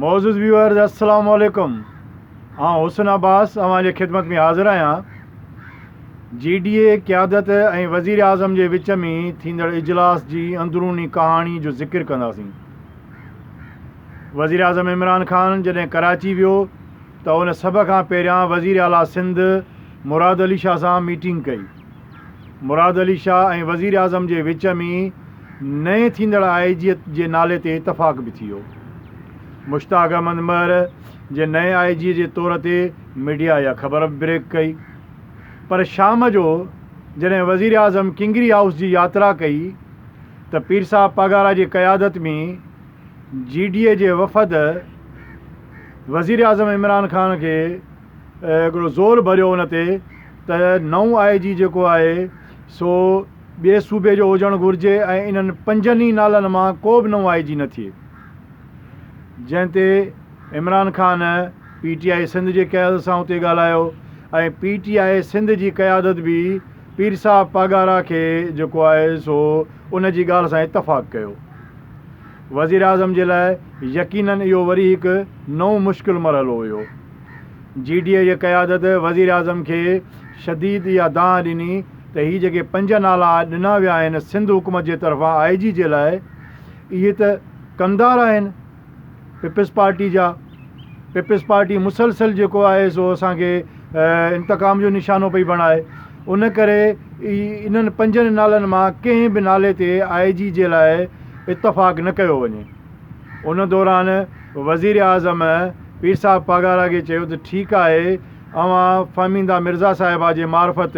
معزز ويورز السلام عليڪم آئون حسن عباس اوهان جي خدمت ۾ حاضر آهيان جي ڊي اي قيادت ۽ وزير اعظم جي وچ ۾ ٿيندڙ اجلاس جي اندروني ڪهاڻي جو ذڪر ڪنداسين وزير اعظم عمران خان جڏهن ڪراچي ويو ته ان سڀ کان پهريان وزير اعليٰ سنڌ مراد علي شاهه سان ميٽنگ ڪئي مراد علي شاهه ۽ وزيراعظم جي وچ ۾ نئين ٿيندڙ آء جي جي نالي تي اتفاق به ٿيو. مشتاق احمد مهر جي نئين آء جي جي طور تي ميڊيا اها خبر به بريڪ ڪئي پر شام جو جڏهن وزيراعظم ڪنگري هائوس جي ياترا ڪئي ته پيرصاحب پاڳارا جي قيادت ۾ جي ڊي اي جي وفد وزيراعظم عمران خان کي هڪڙو زور ڀريو ان تي ته نئون آء جي جيڪو آهي سو ٻئي صوبي جو هجڻ گهرجي ۽ انهن پنجن ئي نالن مان ڪو به نئون آء جي نه ٿئي جنهن تي Imran Khan P T I Sindh جي قيادت سان اتي ڳالهايو ۽ پي ٽي آء سنڌ جي قيادت به پير صاحب پاڳارا کي جيڪو آهي سو ان جي ڳالهه سان اتفاق ڪيو. وزيراعظم جي لاء يقينن اهو وري هڪ نئون مشڪل مرحلو هيو. جي ڊي اي جي قيادت وزيراعظم کي شديد اها دانهن ڏني ته هي جيڪي پنج نالا ڏنا ويا آهن سنڌ حڪومت جي طرفان آء جي جي لاء اهي ته ڪمدار آهن پيپلزپارٽي جا پيپلزپارٽي مسلسل جيڪو آهي سو اسان کي انتقام جو نشانو پئي بڻائي. ان ڪري ئي انهن پنجن نالن مان ڪنهن به نالي تي آء جي جي لاء اتفاق نه ڪيو وڃي. ان دوران وزيراعظم پير صاحب پاڳارا کي چيو ته ٺيڪ آهي اوهان فهميده مرزا صاحبه جي معرفت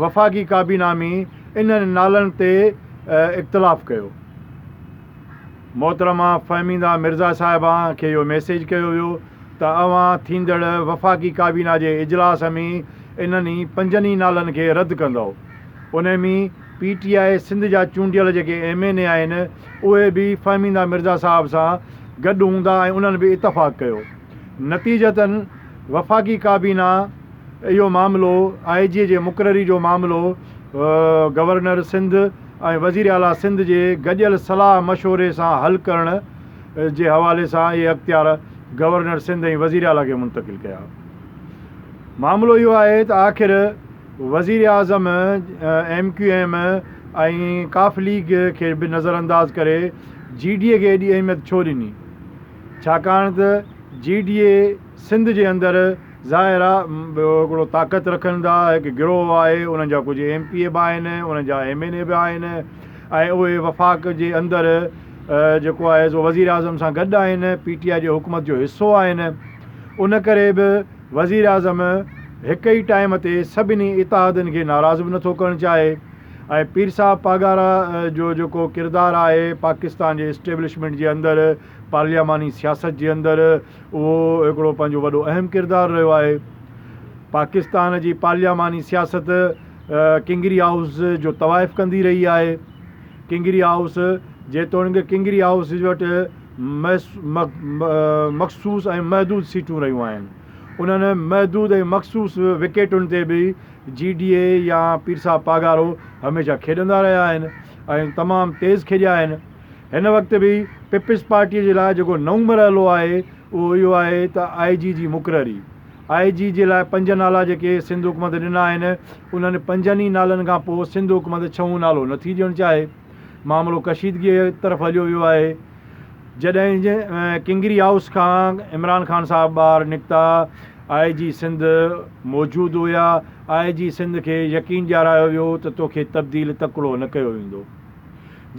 وفاقي ڪابينا ۾ انهن نالن تي اختلاف ڪيو. محترمه فهميده مرزا صاحبه کي اهو ميسيج ڪيو ويو ته اوهان ٿيندڙ وفاقي ڪابينا جي اجلاس ۾ انهن ئي پنجن ئي نالن کي رد ڪندؤ. انهي ۾ پي ٽي آء سنڌ جا چونڊيل جيڪي ايم اين اي آهن اهي به فهميده مرزا صاحب سان گڏ هوندا ۽ انهن به اتفاق ڪيو. نتيجتاً وفاقي ڪابينا اهو معاملو آء جي جي مقرري جو معاملو گورنر سنڌ، ۽ وزير اعليٰ سنڌ جي گڏيل صلاح مشوري سان حل ڪرڻ جي حوالي سان اهي اختيار گورنر سنڌ ۽ وزير اعليٰ کي منتقل ڪيا. معاملو اهو آهي ته آخر وزير اعظم ايم ڪيو ايم ۽ ڪاف ليگ کي به نظر انداز ڪري جي ڊي اي کي ايڏي اهميت ڇو ڏني ڇاڪاڻ ته جي ڊي اي سنڌ جي اندر ظاهر آ هڪڙو طاقت رکن ٿا هڪ گروهه آهي انهن جا ڪجهه ايم پي اي به آهن انهن جا ايم اين اي به آهن ۽ اهي وفاق جي اندر جيڪو آهي سو وزير اعظم سان گڏ آهن پي ٽي آء جي حڪومت جو حصو آهن ان ڪري به وزير اعظم هڪ ئي ٽائيم تي سڀني اتحادن کي ناراض به نٿو ڪرڻ چاهي ۽ پير صاحب پاڳارا جو جيڪو ڪردار آهي پاڪستان جي اسٽيبلشمينٽ جي اندر پارلياماني سياست جي اندر اهو هڪڙو پنهنجو وڏو اهم ڪردار رهيو آهي. پاڪستان جي پارلياماني سياست ڪنگري هائوس جو طوائف ڪندي رهي آهي. ڪنگري هائوس جيتوڻيڪ ڪنگري هائوس وٽ مخصوص ۽ محدود سيٽون رهيون آهن. انهن محدود ۽ مخصوص وڪيٽن تي به جي ڊي اي يا پيرصاحب پاڳارو هميشه کيڏندا رهيا آهن ۽ تمام تيز کيڏيا آهن. هن وقت به پيپلز پارٽيء جي لاء جيڪو نئون مرحلو آهي اهو اهو آهي ته آء جي جي مقرري. آء جي جي لاء پنج نالا جيڪي سنڌ حڪومت ڏنا آهن انهن پنجن ئي نالن کان پوء سنڌ حڪومت ڇهون نالو نه ٿي ڏيڻ چاهي. معاملو ڪشيدگيء طرف هليو ويو آهي. جڏهن ڪنگري هائوس کان عمران خان صاحب ٻاهر نڪتا، آء جي سنڌ موجود هيا، آء جي سنڌ کي يقين ڏيارايو ويو ته توکي تبديل تڪڙو نه ڪيو ويندو.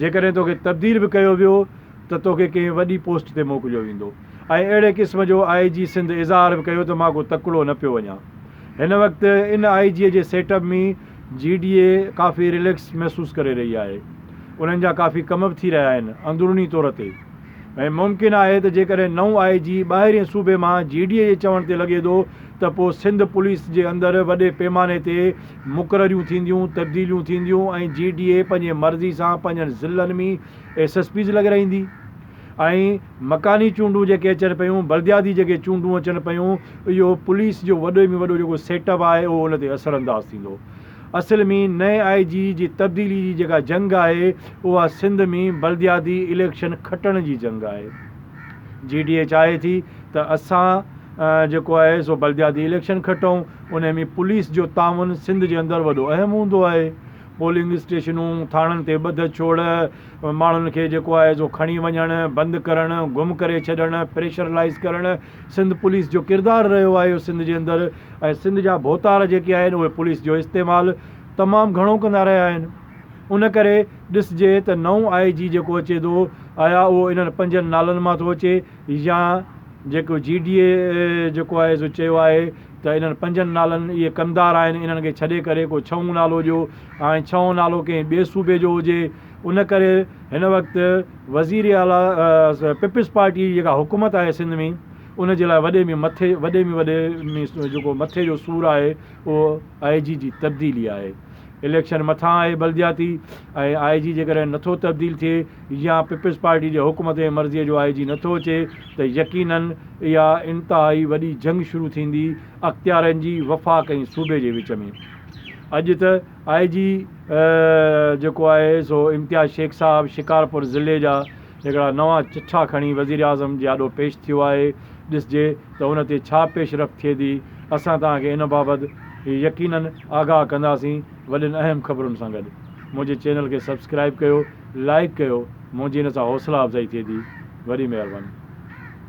جيڪڏهن توکي تبديل به ڪيو ويو ته توکي ڪنهن وڏي پوسٽ تي موڪليو ويندو ۽ اهڙي قسم جو آء جي سنڌ اظهار به ڪيو ته مان ڪو تڪڙو نه پيو وڃان هن وقت ان I G G setup ۾ G D A ڪافي رليڪس محسوس ڪري رهي آهي انهن جا ڪافي ڪم به ٿي رهيا آهن اندروني طور تي ۽ ممڪن آهي ته جيڪڏهن نئون آء جي ٻاهرين صوبي مان جي ڊي اي جي چوڻ تي لڳي ٿو ته پوء سنڌ پوليس جي اندر وڏي پيماني تي مقرريون ٿينديون، تبديليون ٿينديون ۽ جي ڊي اي پنهنجي مرضي سان پنهنجن ضلعن ۾ ايس ايس پيز لڳرائيندي ۽ مڪاني چونڊون جيڪي اچن پيون، بلدياتي جيڪي چونڊون اچن پيون، اهو پوليس جو وڏي ۾ وڏو جيڪو سيٽ اپ آهي اهو ان تي اثر انداز ٿيندو. اصل ۾ نئين آء جي جي تبديلي جي جيڪا جنگ آهي اها سنڌ ۾ بلدياتي اليڪشن کٽڻ جي جنگ آهي. جي ڊي اي چاهي ٿي ته اسان جيڪو آهي سو بلدياتي اليڪشن کٽئون انهي ۾ پوليس جو تعاون سنڌ جي اندر وڏو اهم هوندو آهي. پولنگ اسٽيشنون، ٿاڻن تي ٻڌ ڇوڙ، ماڻهن کي جيڪو آهي سو کڻي وڃڻ، بند ڪرڻ، گم ڪري ڇڏڻ، پريشرلائيز ڪرڻ سنڌ پوليس جو ڪردار رهيو آهي سنڌ جي اندر ۽ سنڌ جا ڀوتار جيڪي آهن اهي پوليس جو استعمال تمام گهڻو ڪندا رهيا آهن ان ڪري ڏسجي ته نئون آء جي جيڪو اچي ٿو آيا اهو انهن پنجن نالن مان ٿو اچي يا جيڪو جي ڊي اي جيڪو آهي سو چيو آهي ته انهن پنجن نالن اهي ڪمدار آهن، انهن کي ڇڏي ڪري ڪو ڇهون نالو ڏيو ۽ ڇهون نالو ڪنهن ٻئي صوبي جو هجي، ان ڪري هن وقت وزير اعليٰ پيپلز پارٽيء جي جيڪا حڪومت آهي سنڌ ۾ ان جي لاء وڏي ۾ مٿي وڏي ۾ وڏي ۾ جيڪو مٿي جو سور آهي اهو آء جي جي تبديلي آهي، اليڪشن مٿان آهي بلدياتي ۽ آء جي جيڪڏهن نٿو تبديل ٿئي يا پيپلز پارٽي جي حڪمت ۽ مرضيء جو آء جي نٿو اچي ته يقينن اها انتهائي وڏي جنگ شروع ٿيندي اختيارين جي وفاق ۽ صوبي جي وچ ۾. اڄ ته آء جي جيڪو آهي سو امتياز شيخ صاحب شڪارپور ضلعي جا هڪڙا نوان چٺا کڻي وزيراعظم جي آڏو پيش ٿيو آهي ڏسجي ته ان تي ڇا پيش رفت ٿئي ٿي اسان توهان کي ان بابت يقينن آگاهه ڪنداسين وڏين اهم خبرن سان گڏ منهنجي چينل کي سبسڪرائيب ڪيو. لائيڪ ڪيو منهنجي ان سان حوصلا افزائي ٿئي ٿي وڏي مهرباني.